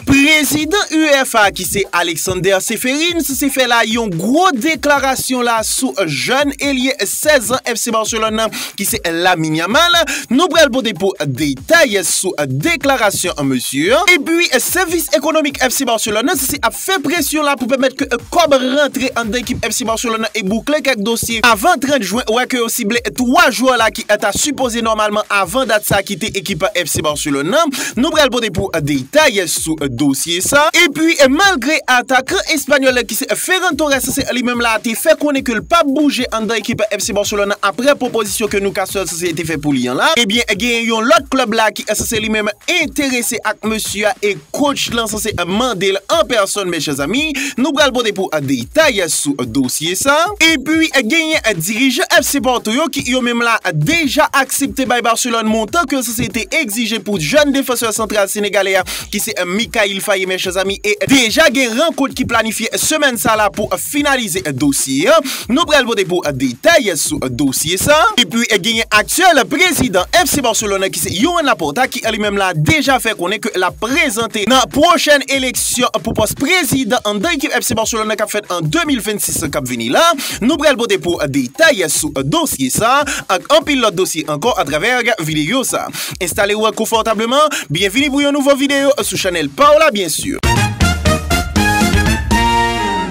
Prezidan UEFA ki se Alexander Ceferins se fè la yon gwo deklarasyon la sou jèn elye 16 an FC Barcelone nan ki se Lamine Yamal. Nou pral pote pou detay sou deklarasyon mesye an. Epi sèvis ekonomik FC Barcelone nan se se ap fè presyon la pou pèmèt ke kòb rantre anndan ekip FC Barcelone nan e boukle kèk dosye avan 30 jwen wè ke yo sible 3 jwè la ki ta sipoze nòmalman avan dat sa kite ekip FC Barcelone nan. Nou pral pote pou detay sou dosye sa. Epi, malgre atakan espanyòl la ki se Ferran Torres se li menm la te fè konnen ke l pap bouje anndan ekip FC Barcelona aprè pwopozisyon ke Newcastle se te fè pou li an la, ebyen genyen yon lòt klèb la ki se li menm enterese ak mesye a e coach lan se mande l an pèsòn mes chers amis. Nou pral pote pou detay. detay sou dosye sa. Epi genyen dirijan FC Porto yo ki yo menm la deja aksepte bay Barcelone montan ke sanse te egzije pou jèn defansè santral senegalè a ki se Mikayil Faye men chèzami e deja gen rankont ki planifye semèn sa la pou finalize dosye an. Nou pral pote pou detay sou dosye sa. Epi genyen aktyèl prezidan FC Barcelone ki se Joan Laporta ki li menm la deja fè konnen ke lap prezante nan pwochèn eleksyon. eleksyon pou pòs prezidan anndan ekip FC Barcelone k ap fèt an 2026 k ap vini la. Nou pral pote pou w detay sou dosye sa ak anpil lòt dosye ankò atravè videyo sa. Enstale w konfòtableman, byenvini pou yon nouvo videyo sou chanèl pa w la byen si.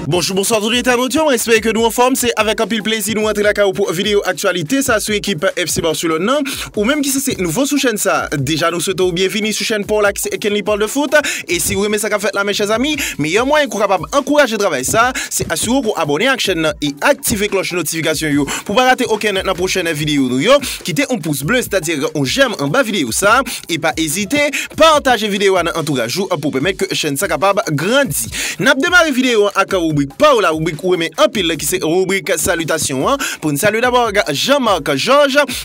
Bonjou bonswa tout entènot yo, mwen espere ke nou anfòm, se avèk anpil plezi nou rantre lakay ou pou videyo aktyalite sa sou ekip FC Barcelone nan. Ou menm ki se se nouvo sou chèn sa, deja nou swete w byenvini sou chèn paw la ki se Kenly Parle de Foot, e siw renmen sa kap fèt la men chè zanmi, meyè mwayen ke w kapab ankouraje travay sa, se asire w ke w abòne ak chèn nan e aktive klòch notifikasyon yo pou w pa rate okenn nan pwochèn videyo nou yo, kite on pous ble sètadi on jèm anba videyo sa, e pa ezite pataje videyo a nan antouraj ou pou pèmèt ke chèn sa kapab grandi. Nap demare videyo an ak ribrik paw la, ribrik ou renmen anpil ki se ribrik salitasyon an, pou n salye dabò ak Jean Marc Georges,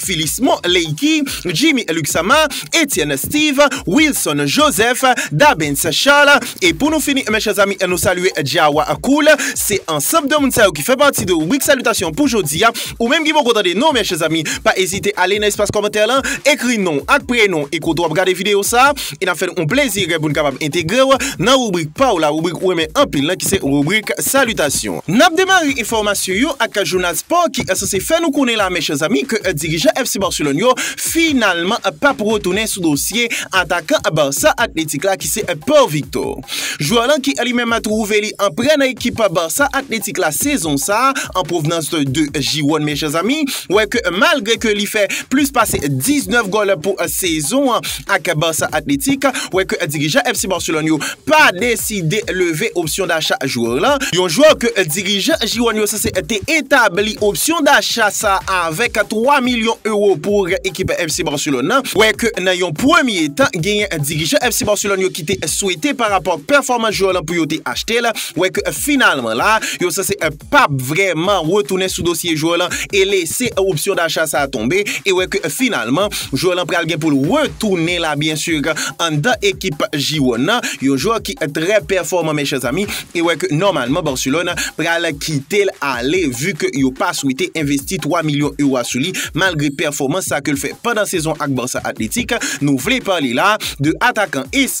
Philismon Leïki, Jimmy Luxama, Etienne Steve, Wilson Joseph, Dabens Charles, e pou nou fini mes chers amis nou salye Djawa Cool, se ansanb de moun sa yo ki fè pati de ribrik salitasyon pou jodi a, ou menm ki poko tande non mes chers amis pa ezite ale nan espas kòmantè lan ekri non ak prenon e kote wap gade video sa. e n ap fè nou yon plezi pou n kapab entegre w nan ribrik pa w la, ribrik ou renmen anpil lan ki se ribrik salitasyon. N ap demare enfòmasyon yo ak jounal spò ki sanse fè nou konnen la men chè zanmi ke dirijan FC Barcelone yo finalman pa p retounen sou dosye atakan Barça Athletic la ki se Pau Victor. Jwè lan ki li menm twouve li an prè nan ekip Barça Athletic la sezon sa an pwovnans de Gironne men chè zanmi wè ke malgre ke li fè plis pase 19 gòl pou sezon an ak Barça Athletic wè ke dirijan FC Barcelone yo pa deside leve opsyon dacha jwè la, yon jwè ke dirijan Gironn yo sanse te etabli opsyon dacha sa avèk 3 milyon ewo pou ekip FC Barcelone nan, wè ke nan yon premye tan genyen dirijan FC Barcelone yo ki te swete pa rapò ak pèfòmans jwè la pou yo te achte l, wè ke finalman la yo sanse. pap vrèman retounen sou dosye jwè lan e lese opsyon dacha sa tonbe e wè ke finalman jwè lan pral gen pou l retounen la byen sur anndan ekip Jiwòn nan, yon jwè ki trè pèfòman mes chers amis e wè ke nòmalman Barcelone pral kite l ale vu ke yo pa swete envesti 3 milyon euro a sou li malgre pèfòmans sa ke l fè pandan sezon ak Barça Athletic, nou vle pale la de atakan es.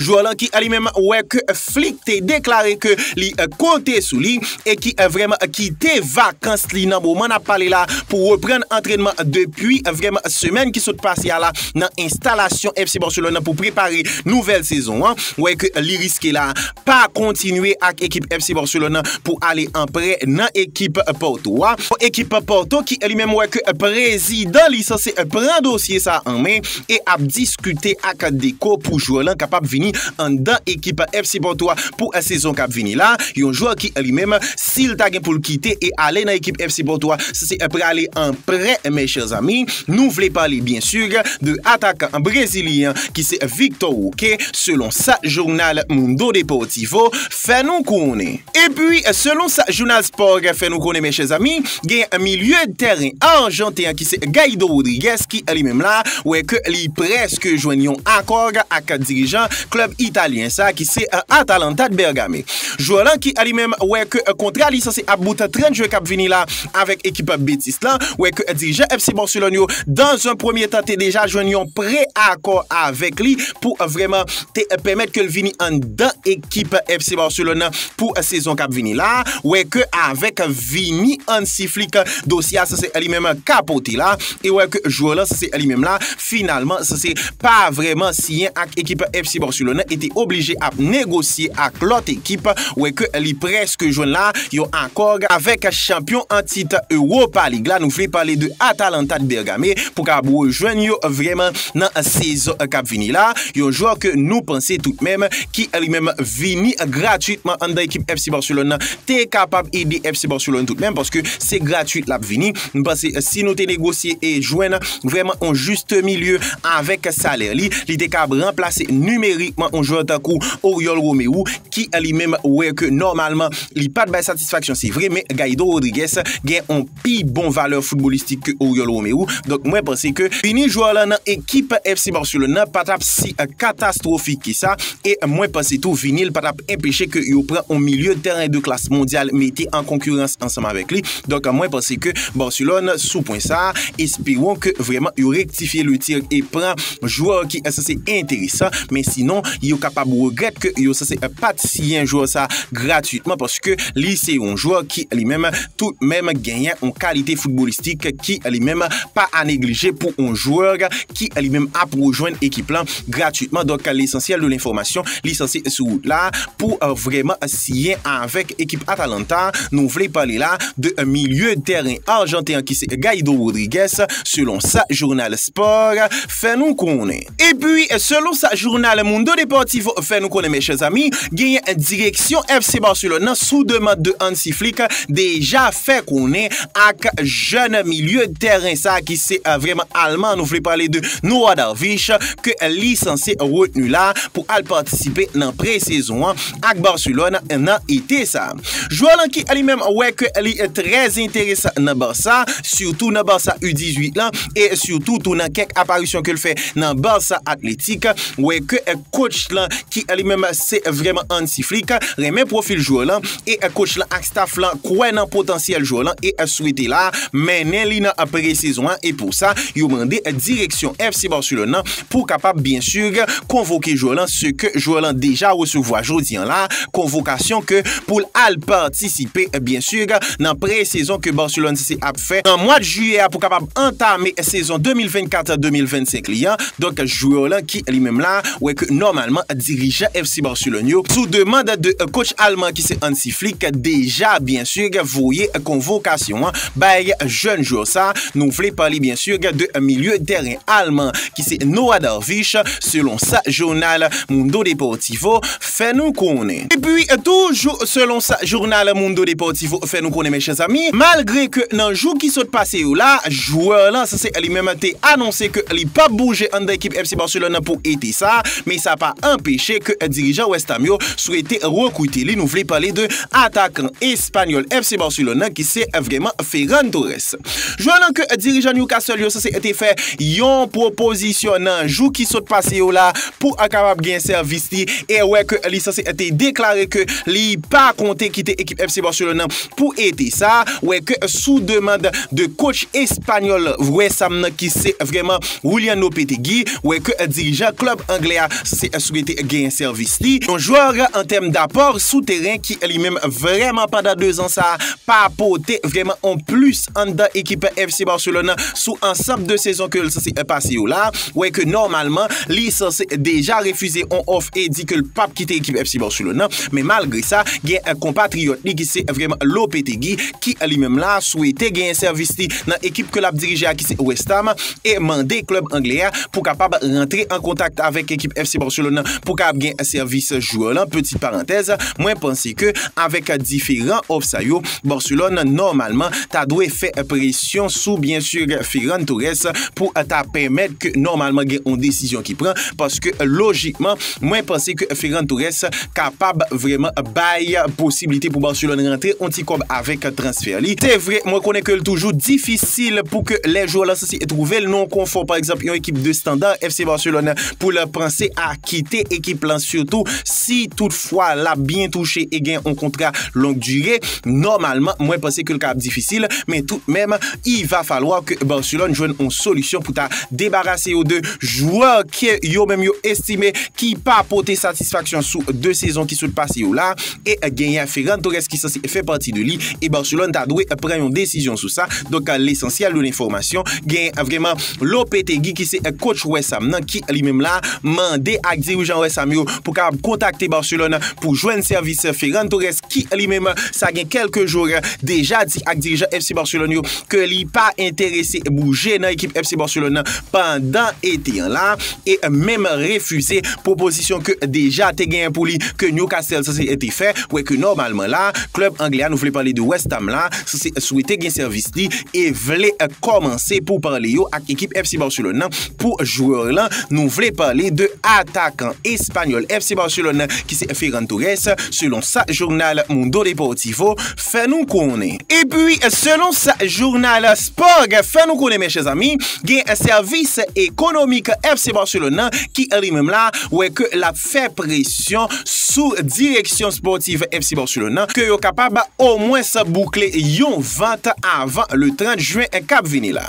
Jwè lan ki li menm wè ke Flick te deklare ke li konte sou li e ki vreman kite vakans li nan moman nap pale la pou reprann antrènman depi vreman semèn ki sot pase a la nan enstalasyon FC Barcelone pou prepare nouvèl sezon an, wè ke li riske la. pa kontinye ak ekip FC Barcelone nan pou ale an prè nan ekip Porto a. Yon ekip Porto ki li menm wè ke prezidan li sanse pran dosye sa an men e ap diskite ak Deco pou jwè lan kapab vini anndan ekip FC Porto a pou sezon kap vini la. Yon jwè ki li menm. Si l ta gen pou l kite e ale nan ekip FC Porto a, sa se pral ale an prè mes chers amis. Nou vle pale byen sur de atakan brezilyen an ki se Victor Roque selon sa jounal Mundo Deportivo fè nou konnen. Epi selon sa jounal Sport fè nou konnen mes chers amis, gen milye de tèren arjanten an ki se Guaido Rodrigues ki li menm la wè ke li prèske jwenn yon akò ak dirijan klub italyen sa ki se Atalanta de Bergame. Jwè lan ki alimenm wè ke kontra li sanse ap bout 30 jwen kap vini la avèk ekip Betis lan, wè ke dirijan FC Barcelone yo dan zon premye tan te deja jwenn yon pre akò avèk li pou vrèman te pèmèt ke l vini anndan ekip FC Barcelone lan pou sezon kap vini la, wè ke avèk vini Hansi Flick dosye a sanse alimenm kapote la e wè ke jwè lan sanse alimenm la. Finalman, Sese pa vrèman siyen ak ekip FC Barcelone e te oblije ap negosye ak lòt ekip, wè ke li prèske jwenn la yon akò avèk chanpyon an tit Europa League la, nou vle pale de Atalanta de Bergame, pou kab rejwenn yo vrèman nan sezon kap vini la, yon jwè ke nou panse tout menm ki li menm vini gratuitman anndan ekip FC Barcelone nan te kapab ede FC Barcelone tout menm paske se gratuit lap vini. M panse si nou te negosye e jwenn vrèman yon juste milieu avèk salè li, li te kab ranplase nimerikman yon jwè tankou Oriol Romeu ki li menm wè ke nòmalman li pat bay satisfaksyon se vre men Guaido Rodrigues gen yon pi bon valè foutbolistik ke Oriol Romeu. Donk mwen panse ke vini jwè lan nan ekip FC Barcelone nan pa tap si katastwofik ke sa e mwen panse tou vini l pa tap enpeche ke yo pran yon milieu de tèren de klas mondyal mete an konkirans ansanm avèk li. Donk mwen panse ke Barcelone sou pwen sa, esperon ke vreman yo rektifye le tir e pran jwè ki sanse enteresan, men sinon yo kapab regrèt ke yo sanse pat siyen jwè sa gratuitman paske li se yon jwè ki li menm tout menm genyen yon kalite foutbolistik ki li menm pa a neglije pou yon jwè ki li menm ap rejwenn ekip lan gratuitman. Donk lesansyèl de lenfòmasyon li sanse sou wout la pou vreman Siyen avèk ekip Atalanta, nou vle pale la de milye tèren arjanten an ki se Gaido Rodrigues, selon sa jounal Sport fè nou konnen. Epi, selon sa jounal Mundo Deportivo fè nou konnen mèchè zanmi, genyen direksyon FC Barcelone nan sou demand de Hansi Flick deja fè konnen ak jèn milye tèren sa ki se vrèman alman, nou vle pale de Noah Darvish, ke li sanse retni la pou al patisipe nan pre-sezon an. ak Barcelone nan ete sa. Jwè lan ki li menm wè ke li trè enteresan nan Barça, sitou nan Barça U18 lan e sitou tou nan kèk aparisyon ke l fè nan Barça Athletic, wè ke kotch lan ki li menm se vrèman Hansi Flick, renmen pwofil jwè lan e kotch lan ak staf lan kwè nan potansyèl jwè lan e swete la mennen li nan pre-sezon an e pou sa yo mande direksyon FC Barcelone lan pou kapab byen sur konvoke jwè lan se ke jwè lan deja resevwa jodi an la konvokasyon ke pou l al patisipe byen sur nan pre-sezon ke Barcelone FC ap fè nan mwad jiyè a pou kapab antame sezon 2024 2025 li an donk jwè lan ki li menm la wè ke nòmalman dirijan FC Barcelone yo sou demand de coach alman ki se Hansi Flick deja byen sur voye konvokasyon an bay jèn jwè sa nou vle pale byen sur de milye tèren Alman ki se Noah Darvish, selon sa jounal Mundo Deportivo fè nou konnen. Epi toujou selon sa jounal Mundo Deportivo fè nou konnen mèche zanmi, malgre ke nan jou ki sot pase yo la, jwè lan sa se li menm te anonse ke li pap bouje anndan ekip FC Barcelone pou ete sa, men sa pa anpeche ke dirijan West Ham yo swete rekrite li, nou vle pale de atakan espanyòl FC Barcelone nan ki se vreman Ferran Torres. Jwè nan kè dirijan Newcastle yo sanse te fè yon pwopozisyon nan jou ki sot pase yo la pou kapab gen sèvis li e wè ke li sanse te deklare ke li pa konte kite ekip FC Barcelone nan pou ete sa wè ke sou demand de coach espanyòl wè sa m nan ki se vrèman Willian Lopetegui wè ke dirijan klub anglè a sanse swete gen sèvis li yon jwè an tèm dapò sou teren ki li menm vrèman pandan 2 zan sa pa pote vrèman on plis anndan ekip FC Barcelone an sou ansanb de sezon ke l sanse pase yo la, wè ke nòmalman li sanse deja refize on òf e di ke l pap kite ekip FC Barcelone nan, men malgre sa gen konpatriyòt li ki se vrèman Lopetegui ki li menm la swete genyen sèvis li nan ekip ke l ap dirije a ki se West Ham e mande klèb anglè a pou kapab rantre an kontak avèk ekip FC Barcelone nan pou kapab gen sèvis jwè lan, peti parantèz, mwen panse. ke avèk diferan òf sa yo, Barcelone nòmalman ta dwe fè presyon sou byen sur Ferran Torres pou ta pèmèt ke nòmalman gen yon desizyon ki pran paske lojikman mwen panse ke Ferran Torres kapab vrèman bay posiblite pou Barcelone rantre yon ti kòb avèk transfè li. Se vre mwen konnen ke l toujou difisil pou ke lè jwè w lan sansi twouve l nan yon konfò pa egzanp yon ekip de standard FC Barcelone pou l panse a kite ekip lan sitou si tout fwa lap byen touche e gen yon kontra long dire nòmalman mwen panse ke l ka ap difisil men tout menm i va falwa ke Barcelone jwenn yon solisyon pou ta debarase yo de jwè ke yo menm yo estime ki pa pote satisfaksyon sou 2 sezon ki sot pase yo la e genyen Ferran Torres ki sanse fè pati de li e Barcelone ta dwe pran yon desizyon sou sa donk lesansyèl de lenfòmasyon genyen vreman Lopetegui ki se coach West Ham nan ki li menm la mande ak dirijan West Ham yo pou kapab kontakte Barcelone pou jwenn sèvis Ferran Torres ki li menm sa gen kèlke jou deja di ak dirijan FC Barcelone yo ke li pa enterese bouje nan ekip FC Barcelone nan pandan ete an la e menm refize pwopozisyon ke deja te genyen pou li ke Newcastle sanse te fè wè ke nòmalman la klèb anglè a nou vle pale de West Ham la Si se swete gen sèvis li e vle kòmanse pou pale yo ak ekip FC Barcelone nan pou jwè lan, nou vle pale de atakan espanyòl FC Barcelone nan ki se Ferran Torres, selon sa jounal Mundo Deportivo fè nou konnen. Epi, selon sa jounal Spog fè nou konnen men chè zanmi, gen sèvis ekonomik FC Barcelone nan ki li menm la wè ke l ap. fè presyon sou direksyon spòtiv FC Barcelone nan ke yo kapab omwens boukle yon vant avan le 30 jwen k ap vini la.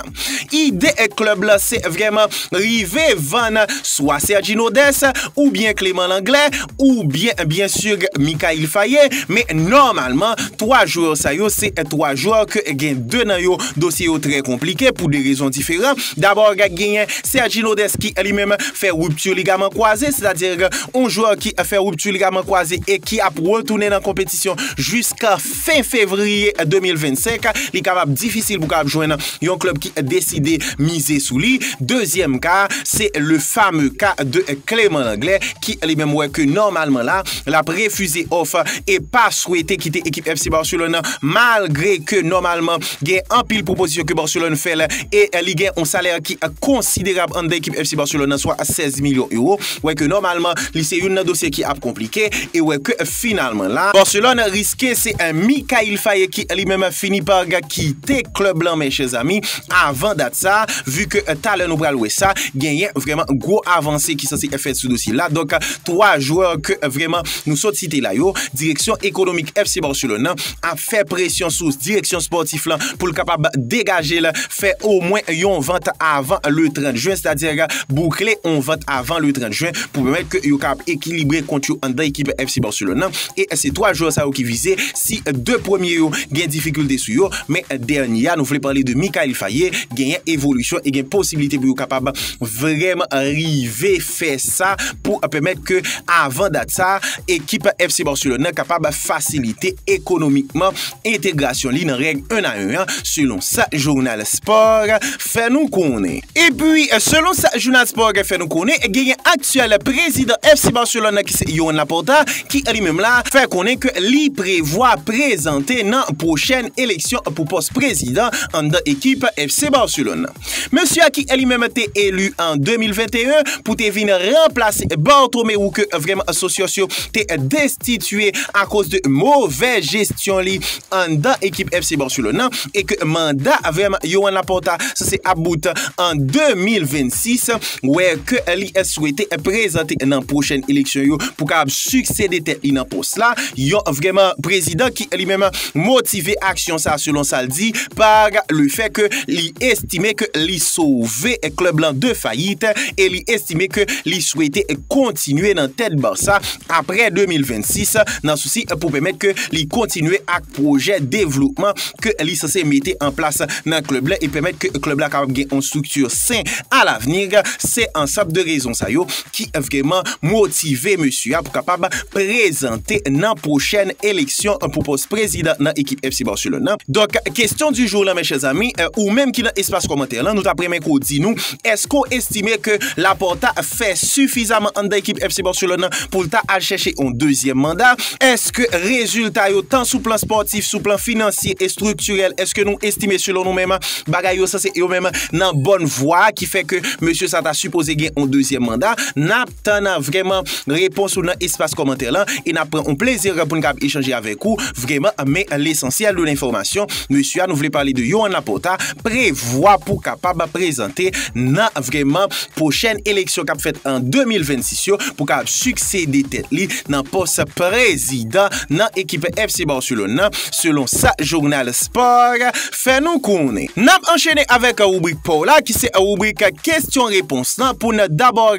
Ide klèb la se vrèman rive vann swa Sergino Dest oubyen Clément Lenglet oubyen byen sur Mikayil Faye men nòmalman 3 jwè sa yo se 3 jwè ke gen 2 nan yo dosye yo trè konplike pou 2 rezon diferan. Dabò genyen Sergi Lodes ki li menm fè rupture ligaman kwaze, sètadi yon jwè ki fè rupture ligaman kwaze e ki ap retounen nan konpetisyon jiska fen fevriye 2025, li kapab difisil pou kapab jwenn yon klub ki deside mize sou li. Dezyèm ka a, se le fameux ka de Clément Langlais ki li menm wè ke nòmalman la, l ap refize òf e pa swete kite ekip FC Barcelone nan malgre ke nòmalman Gen anpil pwopozisyon ke Barcelone fè l e li gen yon salè ki konsiderab anndan ekip FC Barcelone nan, swa 16 milyon euro. Wè ke nòmalman li se youn nan dosye ki ap konplike e wè ke finalman la, Barcelone riske se Mikayil Faye ki li menm fini pa kite klèb lan men chèzami avan dat sa a, vu ke talè nou pral wè sa, genyen vrèman gwo avanse ki sanse fèt sou dosye la. Donk 3 jwè ke vrèman nou sot site la yo, direksyon ekonomik FC Barcelone nan ap. fè presyon sou direksyon spòtif lan pou l kapab degaje l fè omwen yon vant avan le 30 jen, sètadi boukle yon vant avan le 30 jen pou pèmèt ke yo kapab ekilibre kont yo anndan ekip FC Barcelone lan e se 3 jwè sa yo ki vize si 2 premye yo gen difikilte sou yo men dènye a nou vle pale de Mikayil Faye genyen evolisyon e gen posibilite pou yo kapab vreman rive. fè sa pou pèmèt ke avan dat sa ekip FC Barcelone nan kapab fasilite ekonomikman entegrasyon li nan règ 1 a 1 an selon sa jounal Sport fè nou konnen. Epi selon sa jounal Sport fè nou konnen genyen aktyèl prezidan FC Barcelone nan ki se Joan Laporta ki li menm la fè konnen ke li prevwa prezante nan pwochèn eleksyon pou pòs prezidan anndan ekip FC Barcelone. Mesye a ki li menm te eli an 2021 pou te vin ranplase Barthomé ou ke vrèm sosyos yo te destitye akoz de movè jesyon li anndan ekip FC Barcelone nan e ke manda vrèm Joan Laporta sanse ap bout an 2026 wè ke li swete prezante nan pwochen eleksyon yo pou kapab siksede tèt li nan pos la yon vrèman prezidan ki li menm motive aksyon sa selon sa l di par le fè ke li estime ke li sove klub lan de fayit e li estime ke li swete kontinye nan tèt Barça apre 2026 nan sousi pou pèmèt ke li kontinye ak pwojè devlopman ke li sanse mete an plas nan klub lan e pèmèt ke klub la kapab gen yon strikti sen a lavni. Se ansanp de rezon sa yo ki vreman motive mesye a pou kapab prezante nan pwochèn eleksyon pou pòs prezidan nan ekip FC Barcelone nan. Donk, kesyon di jou lan mes chers amis, ou menm ki nan espas kòmantè lan, nou tap renmen ke w di nou, eske w estime ke Laporta fè sifizaman anndan ekip FC Barcelone nan pou l ta al chèche yon dezyèm manda? Eske rezilta yo tan sou plan spòtif, sou plan finansye, estriktirèl, eske nou estime selon nou menm, Bagay yo sanse yo menm nan bòn vwa ki fè ke mesye sa ta sipoze gen yon dezyèm manda. N ap tann vreman repons ou nan espas kòmantè lan e n ap pran yon plezi pou n kab echanje avèk ou vreman. Men lesansyèl de lenfòmasyon mesye a nou vle pale de Yohann Laporta prevwa pou kapab prezante nan vreman pwochèn eleksyon k ap fèt an 2026 yo pou kab siksede tèt li nan pòs prezidan nan ekip FC Barcelone nan selon sa jounal Sport. Fè nou konnen. N ap anchene avèk ribrik pa w la ki se ribrik kesyon repons lan pou n dabò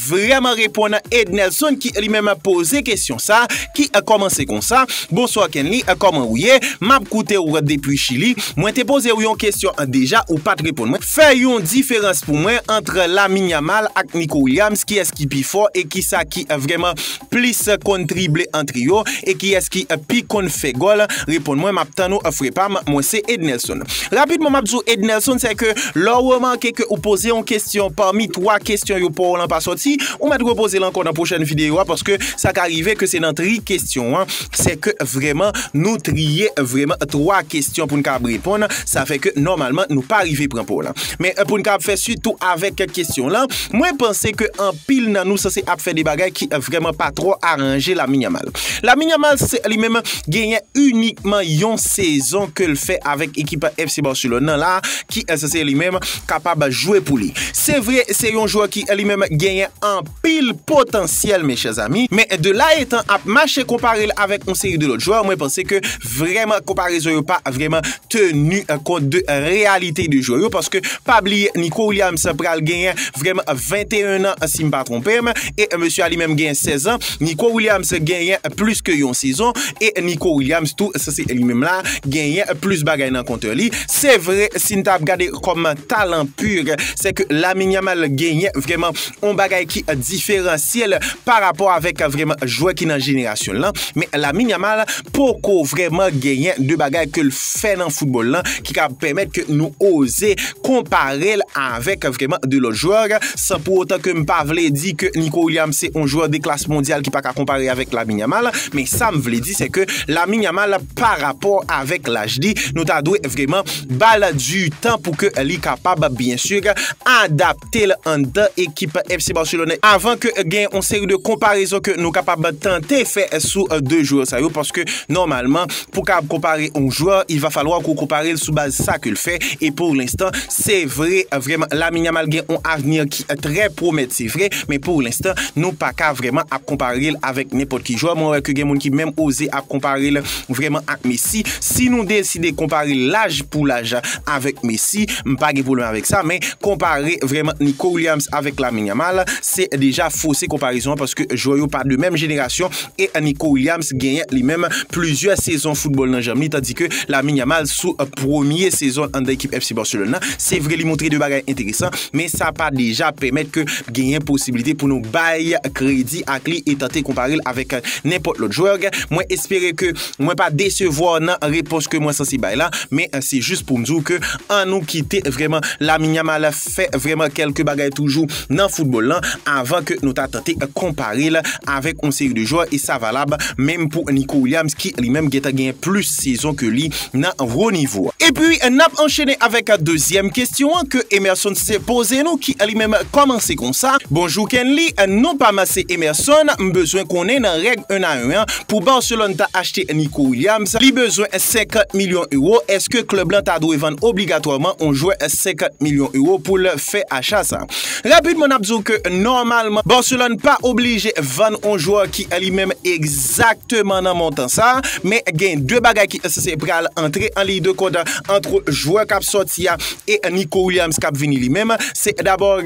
vrèman reponn Ednelson ki li menm poze kesyon sa ki kòmanse konsa, Bonswa Kenly, kòman ou ye? M ap koute w depi Chili. Mwen te poze w yon kesyon deja ou pa t reponn mwen. Fè yon diferans pou mwen ant Lamine Yamal ak Nico Williams kiyès ki pi fò e kisa ki vrèman plis konn trible an trio e kiyès ki pi konn fè gòl reponn mwen map tann ou frè pam mwen se Ednelson rapidman map di w Ednelson se ke lè w remake ke ou poze yon kesyon pami 3 kesyon yo pa w lan pa sòti ou mèt repoze l ankò nan pwochèn videyo a paske sa ka rive ke se nan tri kesyon an Se ke vreman nou triye vreman 3 kestyon pou n kab reponn, sa fè ke nòmalman nou pa rive pran po lan. Men pou n kab fè suit tou avèk kestyon lan, mwen panse ke anpil nan nou sanse ap fè de bagay ki vreman pa twò aranje Lamine Yamal. Lamine Yamal se li menm genyen inikman yon sezon ke l fè avèk ekip FC Barcelone lan la ki sanse li menm kapab jwe pou li. Se vre se yon jwè ki li menm genyen anpil. anpil potansyèl mes chers amis, men de la etan ap mache konpare l avèk yon seri de lòt jwè mwen panse ke vrèman konparezon yo pa vrèman teni kont de reyalite de jwè yo paske pa bliye Nico Williams pral genyen vrèman 21 an si m pa twonpe m e mesye a li menm genyen 16 an, Nico Williams genyen plis ke yon sezon e Nico Williams tou sa se li menm la genyen plis bagay nan konte li, se vre si n ta ap gade kòm talan pur se ke Lamine Yamal genyen vrèman. yon bagay ki diferansye l pa rapò avèk vrèman jwè ki nan jenerasyon l lan, men Lamine Yamal poko vrèman genyen de bagay ke l fè nan foutbòl lan ki kab pèmèt ke nou oze konpare l avèk vrèman de lòt jwè, san pou otan ke m pa vle di ke Nico Williams se yon jwè de klas mondyal ki pa ka konpare avèk Lamine Yamal, men sa m vle di se ke Lamine Yamal pa rapò avèk laj li nou ta dwe vrèman ba l du tan pou ke li kapab byen sur adapte. adapte l anndan ekip FC Barcelone avan ke gen yon seri de konparezon ke nou kapab tante fè sou 2 jwè sa yo paske nòmalman pou kab konpare yon jwè il va falwa ke w konpare l sou baz sa ke l fè e pou lenstan se vre vrèman Lamine Yamal gen yon avni ki trè pwomèt se vre men pou lenstan nou pa ka vrèman ap konpare l avèk nenpòt ki jwè mwen wè ke gen moun ki menm oze ap konpare l Vrèman ak Messi, si nou deside konpare laj pou laj avèk Messi, m pa gen pwoblèm avèk sa, men konpare vrèman Nico Williams avèk Lamine Yamal, se deja fose konparezon an paske jwè yo pa de menm jenerasyon e Nico Williams genyen li menm plizyè sezon foutbòl nan janm li tandi ke Lamine Yamal sou premye sezon l anndan ekip FC Barcelone nan, se vre li montre de bagay enteresan, men sa pa deja pèmèt ke genyen posibilite pou nou bay kredi ak li e tante konpare l avèk nenpòt lòt jwè gen. Mwen espere ke mwen pa desevwa w nan repons ke mwen sanse bay la, men se jis pou m di w ke an nou kite vrèman Lamine Yamal fè vrèman kèlke bagay toujou nan foutbòl lan avan ke nou ta tante konpare l avèk yon seri de jwè e sa valab menm pou Nico Williams ki li menm gentan genyen plis sezon ke li nan wo nivo a. Epi n ap anchene avèk dezyèm kesyon an ke Emerson Cisse poze nou ki li menm kòmanse konsa, Bonjou Kenly, non pa m se Emerson, m bezwen konnen nan règ 1 a 1 an pou Barcelone ta achte Nico Williams li bezwen 50 milyon ewo, èske klèb lan ta dwe vann obligatwaman on jwè 50 milyon ewo pou l fè acha sa? Rapidman n ap di w ke nòmalman Barcelone pa oblije vann on jwè ki li menm egzije. Egzakteman nan montan sa a, men gen 2 bagay ki se pral antre an liy de kont antre jwè k ap sòti a e Nico Williams k ap vini li menm. Se dabò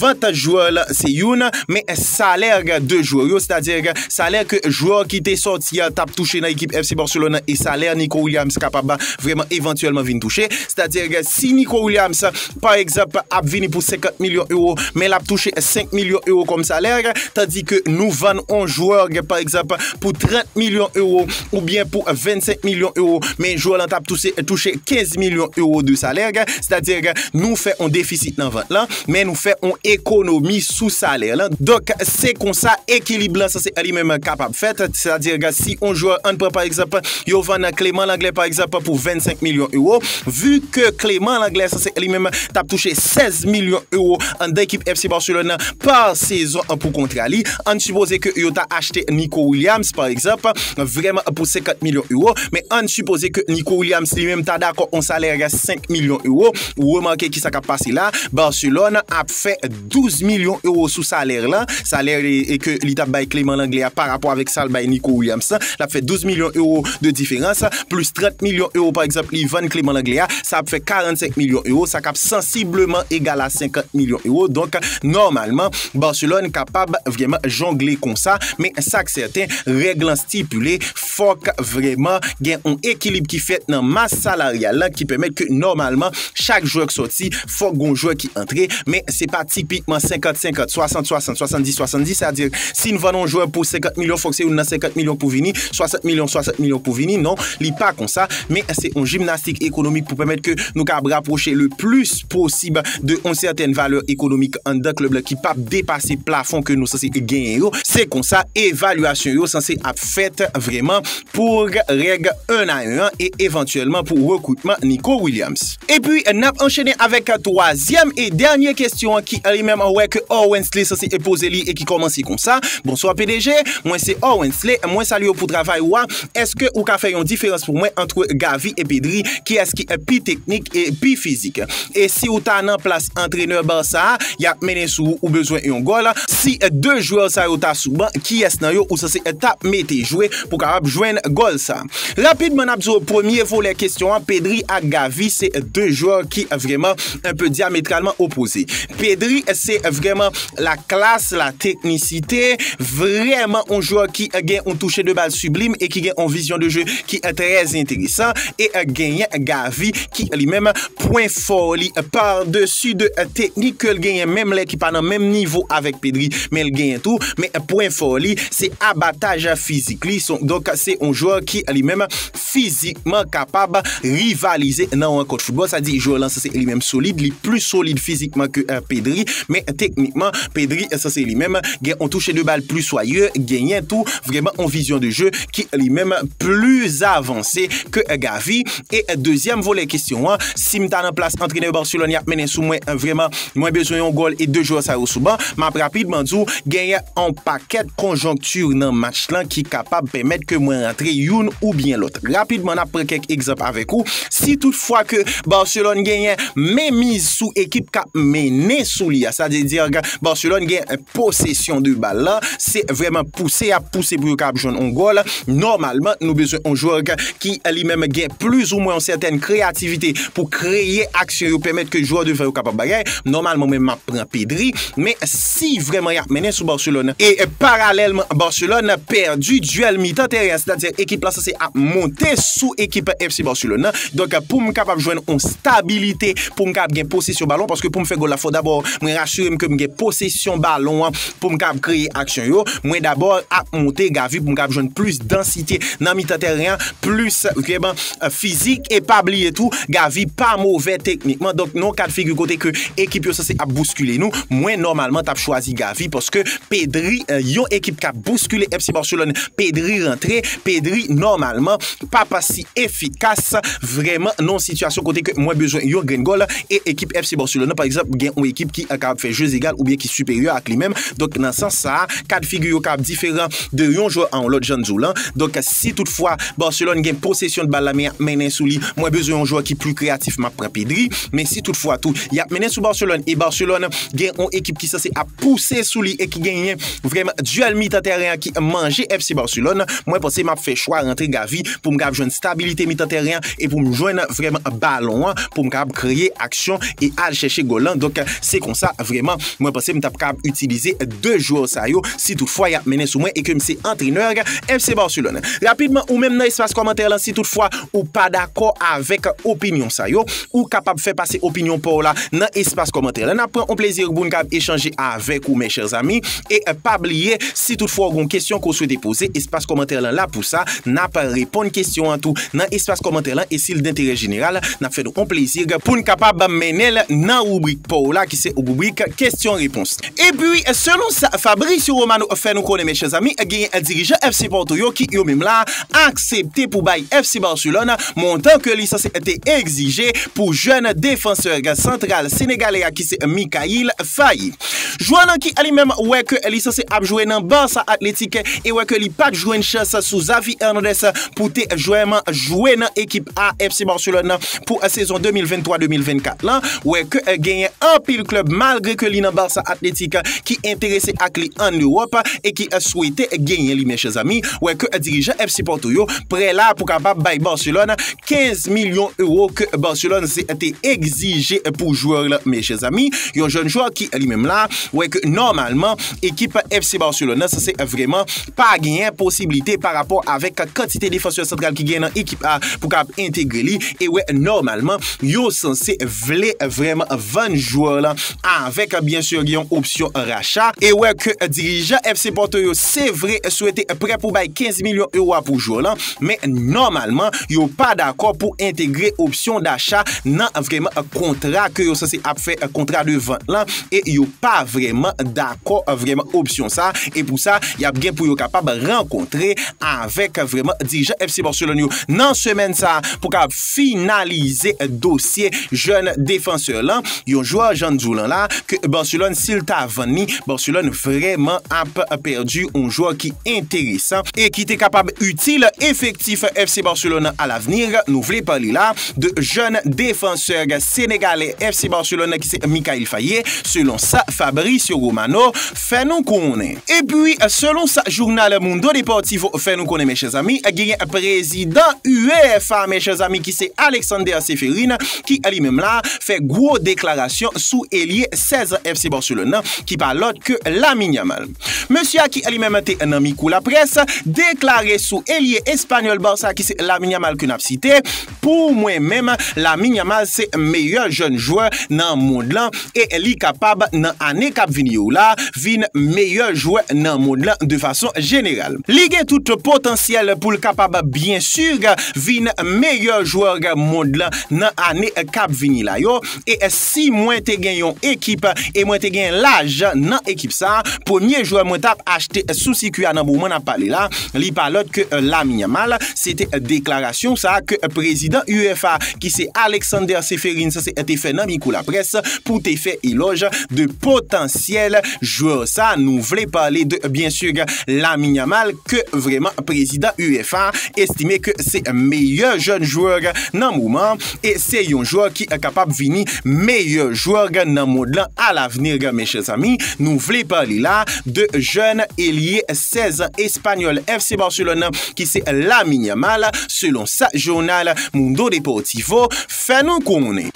vant jwè la se youn, men salè 2 jwè yo, sètadi salè ke jwè ki te sòti a t ap touche nan ekip FC Barcelone e salè Nico Williams kapab vreman evantyèlman vin touche. Sètadi si Nico Williams pa egzanp, ap vini pou 50 milyon ewo, men l ap touche 5 milyon ewo kòm salè, tandi ke nou vann yon jwè, pa egzanp, pou 30 milyon ewo, oubyen pou 25 milyon ewo, men jwè lan t ap touche 15 milyon ewo de salè, sètadi nou fè yon defisit nan vant lan, men nou fè yon ekonomi sou salè lan. Donk, se konsa ekilib lan sanse li menm kapab fèt, sètadi si yon jwè, an n pran pa egzanp, yo vann Clément Langlais pa egzanp pou 25 milyon ewo, Vu ke Clément Lenglet sanse li menm t ap touche 16 milyon ewo anndan ekip FC Barcelone nan pa sezon pou kontra li, ann sipoze ke yo ta achte Nico Williams pa egzanp, vrèman pou 50 milyon ewo, men ann sipoze ke Nico Williams li menm ta dakò yon salè 5 milyon ewo, remake kisa k ap pase la, Barcelone ap fè. 12 milyon ewo sou salèr lan, salèr ke li tap bay Clément Langlais a pa rapò avèk sal bay Nico Williams lan, lap fè 12 milyon ewo de diferans, plis 30 milyon ewo pa egzanp li vann Clément Langlais a, sa ap fè 45 milyon ewo, sa kap sansibleman egal a 50 milyon ewo, donk nòmalman Barcelone kapab vrèman jongle konsa, men sak sèten règ lan stipile. Fòk vrèman gen yon ekilib ki fèt nan mas salaryal lan ki pèmèt ke nòmalman chak jwè k sòti fòk gon jwè ki antre men se pa tipikman 50 50, 60 60, 70 70 sa di si n vann yon jwè pou 50 milyon fòk se yon nan 50 milyon pou vini, 60 milyon 60 milyon pou vini non li pa konsa men se yon jimnastik ekonomik pou pèmèt ke nou kab rapwoche le plis. posib de yon sètèn valè ekonomik anndan klèb la ki p ap depase plafon ke nou sanse genyen yo, se konsa evalyasyon yo sanse ap fèt vrèman pou règ 1 a 1 an e evantyèlman pou rekritman Nico Williams. Epi n ap anchene avèk twazyèm e dènye kesyon an ki li menm wè ke Orwensley sanse poze li e ki kòmanse konsa, Bonswa pdg, mwen se Orwensley, mwen salye w pou travay ou a. Eske ou ka fè yon diferans pou mwen antre Gavi e Pedri kiyès ki pi teknik e pi fizik? E si ou ta nan plas antrenè Barça a, yap mennen sou ou, ou bezwen yon gòl, si 2 jwè sa yo ta sou ban, kiyès nan yo ou sanse ta mete jwe pou kapab jwenn gòl sa? Rapidman nap di w premye volè kesyon an, Pedri ak Gavi se 2 jwè ki vrèman un peu diametralement opposé. Pedri se vrèman la klas, la teknisite, vrèman on jwè ki gen on touche de bal siblim e ki gen on vizyon de jwe ki trè enteresan e genyen Gavi ki li menm pwen fò li par desi de teknik ke l genyen menm lè ki pa nan menm nivo avèk Pedri men l genyen tou men pwen fò li se abataj fizik li donk se on jwè ki li menm fizikman kapab rivalize nan rankont foutbòl. Sa di jwè w lan sanse li menm solid, li pli solid fizikman ke Pedri, men teknikman Pedri sanse li menm gen yon touche de bal pli swaye, genyen tou vrèman yon vizyon de jeu ki li menm pli avanse ke Gavi. E dezyèm volè kesyon an, si m ta nan plas antrenè Barcelone y ap mennen sou mwen vrèman. Mwen bezwen yon gòl e 2 jwè sa yo sou ban. M ap rapidman di w genyen yon pakèt konjonkti nan match lan ki kapab pèmèt ke mwen rantre youn oubyen lòt. Rapidman n ap pran kèk egzanp avèk ou. Si tout fwa ke Barcelone genyen menmiz sou ekip k ap mennen sou li a, sa vle di ke Barcelone gen posesyon de bal la, se vrèman pouse y ap pouse pou yo kapab jwenn yon gòl, nòmalman nou bezwen yon jwè ki li menm gen plis ou mwen yon sètèn kreyativite pou kreye aksyon yo pèmèt ke jwè devan yo kapab bagay, nòmalman mwen menm map pran Pedri, men si vrèman yap mennen sou Barcelone, e paralèlman Barcelone pèdi duèl mitan teren an sètadi ekip la sanse ap monte sou ekip FC Barcelone nan, donk poum kapab jwenn yon stabilite poum kapab gen posesyon balon, paske poum fè gòl la fò dabò mwen rasirem kem gen posesyon balon an Pou m kab kreye aksyon yo, mwen dabò ap monte gavi pou m kab jwenn plis dansite nan mitan tèren an, plis ekipeman fizik e pa bliye tou gavi pa move teknikman donk nan yon kad figi kote ke ekip yo sanse ap bouskile nou mwen nòmalman t ap chwazi gavi paske Pedri yon ekip k ap bouskile FC Barcelone Pedri rantre Pedri nòmalman p ap si efikas vrèman nan yon sitiyasyon kote ke mwen bezwen yon grenn gòl e ekip FC Barcelone nan pa egzanp gen yon ekip ki kapab fè jeu egal oubyen ki siperyè ak li menm donk nan sans sa a ka de figi yo kapab diferan de yon jwè a yon lòt jan n di w lan donk si tout fwa Barcelone gen posesyon de bal la men y ap mennen sou li mwen bezwen yon jwè ki pli kreyatif m ap pran Pedri men si tout fwa tou y ap mennen sou Barcelone e Barcelone gen yon ekip ki sanse ap pouse sou li e ki genyen vrèman duèl mitan tèren an ki manje FC Barcelone mwen panse m ap fè chwa rantre Gavi pou m kab jwenn stabilite mitan tèren an e pou m jwenn vrèman balon an pou m kab kreye aksyon e al chèche gòl lan. Donk, se konsa vrèman mwen panse m t ap kab itilize 2 jwè sa yo si tout fwa y ap mennen sou mwen e ke m se antrenè FC Barcelone. Rapidman, ou menm nan espas kòmantè lan si tout fwa ou pa dakò avèk opinyon sa yo, ou kapab fè pase opinyon pa w la nan espas kòmantè lan. N ap pran on plezi pou n kab echanje avèk ou mes chers amis e pa bliye. Si tout fwa w gen yon kesyon ke w swete poze, espas kòmantè lan la pou sa, n ap reponn kesyon an tou nan espas kòmantè lan e si l denterè jeneral, n ap fè nou yon plezi pou n kapab mennen l nan ribrik pa w la ki se ribrik kesyon repons. Epi selon sa Fabrizio Romano fè nou konnen men chè zanmi genyen dirijan FC Porto yo ki yo menm la aksepte pou bay FC Barcelone montan ke li sanse te egzije pou jèn defansè santral senegalè a ki se Mikayil Faye. Jwè nan ki li menm wè ke li sanse ap jwe nan Barça Athletic e wè ke li pat jwenn chans sou Xavi Hernandez pou te jwèman jwe nan ekip a FC Barcelone nan pou sezon 2023, 2024 lan wè ke genyen anpil klèb malgre ke li nan Barça Athletic ki enterese ak li an Europe e ki swete genyen li men chè zanmi wè ke dirijan FC Porto yo prè la pou kapab bay Barcelone 15 milyon euro ke Barcelone te egzije pou jwè la men chè zami, yon jèn jwè ki li menm la, wè ke nòmalman ekip FC Barcelone nan sanse vreman pa genyen posibilite pa rapò avèk kantite defansè santral ki genyen nan ekip a pou kab entegre li, e wè nòmalman yo sanse vle vreman vann jwè la avèk byen sur gen yon opsyon racha, e wè ke dirijan FC Porto yo se vre swete prè pou bay 15 milyon euro a pou jwè la. Men nòmalman, yo pa dakò pou entegre opsyon dacha nan vreman kontra ke yo sanse ap fè kontra de vant lan e yo pa vreman dakò vreman opsyon sa e pou sa y ap gen pou yo kapab rankontre avèk vreman dirijan FC Barcelone yo nan semèn sa pou ka finalize dosye jèn defansè lan, yon jwè jan n di w lan la, ke Barcelone si l ta vann li, Barcelone vrèman ap pèdi yon jwè ki enteresan, e ki te kapab itil efektif FC Barcelone a lavni, nou vle pale la de jèn defansè senegalè FC Barcelone ki se Mikayil Faye, selon sa Fabrizio Romano fè nou konnen. Epi, selon sa journal Mundo Deportivo fè nou konnen, mèchèzanmi, genyen prezidan UEFA, mèchèzanmi, ki se Alexander Ceferin, ki li menm la, fè gwo deklarasyon sou elye 16 an FC Barcelone nan, ki pa lòt ke Lamine Yamal. Mesye a ki li menm te nan miko laprès, deklare sou elye espanyòl Barça ki se Lamine Yamal ke n ap site, Pou mwen menm Lamine Yamal se meyè jèn jwè nan mond lan e li kapab nan ane kap vini yo la vin meyè jwè nan mond lan de fason jeneral. Li gen tout potansyèl poul kapab byen sur vin meyè jwè mond lan nan ane kap vini la yo E si mwen te gen yon ekip e mwen te gen lajan nan ekip sa, premye jwè mwen t ap achte sou sikwi a nan moman n ap pale la, li pa lòt ke Lamine Yamal. Se te deklarasyon sa ke prezidan UEFA ki se Aleksander Ceferins te fè nan mikwo laprès pou te fè elòj de potansyèl jwè sa. Nou vle pale de byen si Lamine Yamal ke vrèman prezidan UEFA estime ke se meyè jèn jwè nan moman. E se yon jwè ki kapab vini meyè jwè nan mond lan a lavni men chèzanmi. Nou vle pale la de jèn elye 16 an espanyòl FC Barcelone nan ki se Lamine Yamal selon sa jounal Mundo Deportivo fè nou konnen.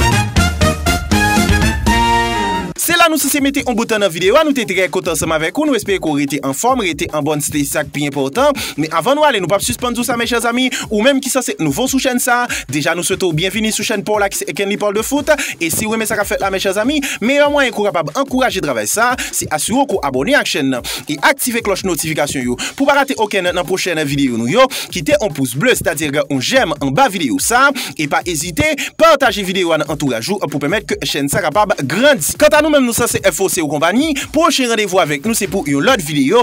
Se la nou sise mete yon bout nan videyo a. Nou te trè kontan ansanm avèk ou. Nou espere ke w rete anfòm, rete an bòn sante se sa k pi enpòtan. Men avan nou ale nou pap sispann di w sa mes chers amis, ou menm ki sanse t nouvo sou chèn sa, deja nou swete w byenvini sou chèn pa w la ki se Ekenly parle de foot, e si w renmen sa kap fèt la mes chers amis, meyè mwayen ke w kapab ankouraje travay sa, se asire w ke w abòne ak chèn nan, e aktive klòch notifikasyon yo pou w pa rate okenn nan pwochèn videyo nou yo, kite on pous ble sètadi on jèm anba videyo sa, e pa ezite pataje videyo a nan antouraj ou pou pèmèt ke chèn sa kapab grandi. Kanta nou menm nou sanse FOC ou konpani, pwochen randevou avèk nou se pou yon lòt videyo,